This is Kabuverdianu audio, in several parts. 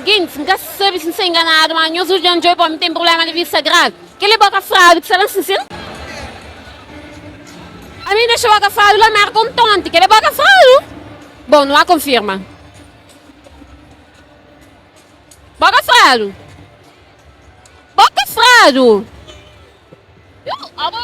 Gentis, N ka sabe si N sta inganadu, má nhos odja N djobe pa mi ten prubléma di vista gravi. Kel li bo ka fradu ki sa ben sinsin? Ami N dexa bo ka fradu la Mérka un tonti, kel li bo ka fradu? Bon, nu ba konfirma. Bo ka fradu? Bo ka fradu? Yo, abo.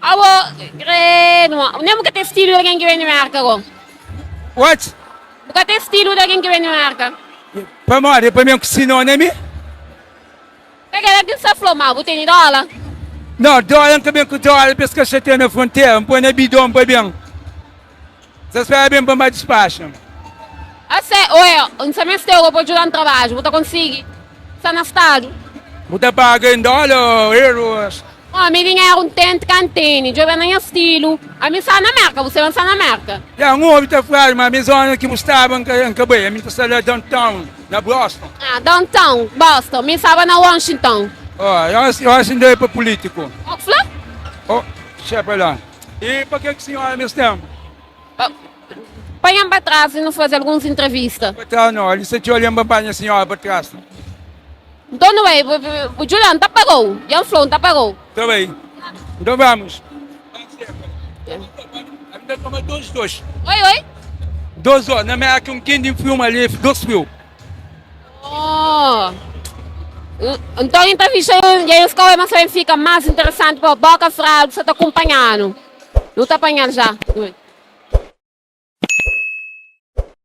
Abo krenu, nem bu ka ten stilu di algen ki ben di Merka go. What? Bu ka ten stilu di algen ki ben di Merka. Pamodi pa mi é un sinonimi. Ka kel algen sta fla ma bu teni dola. No, dola, N ka ben ku dola pa es ka xatia na frontera, N poi na bidon pa ben. Sa spera ben pa ma dispaxa. A se o e N sa meste oba pa djuda-m trabadju bu ta konsigi sa na stadu. Bu ta paga em dola o euros. Ó mi dinheru N tente ka N tene djobe na nha stilu ami sa na merka bu seba N sa na merka. Ya N obi ta flaje ma ami zona ki bu staba N ka bai ami ta sta la downtown na Boston. Ah downtown Boston mi staba na Washington. Ó ya N sta bai pa pulitiku. Ó ku fla. Ó xepa la. E pa ke ki sinhora mes tenpu? Panha-m pa tras i nu faze alguns intrevista. Pa tras no, ali sta txeu li, N ba panha sinhora pa tras. Nton nu bai. Bu dju la, N ta pagau. Dja N fla-u, N ta pagau. Ta bai. Nton bamus. Ami ta toma dos dos. Oi, oi? Dos dos. Na Merka, un kendi, N fiu ma li, dos fiu. Oh! Nton N ta fixa un dja es kau, é mas pa N fika más interesanti pa bo ka fra algu sa ta kunpanha-nu. Nu ta panha-l ja.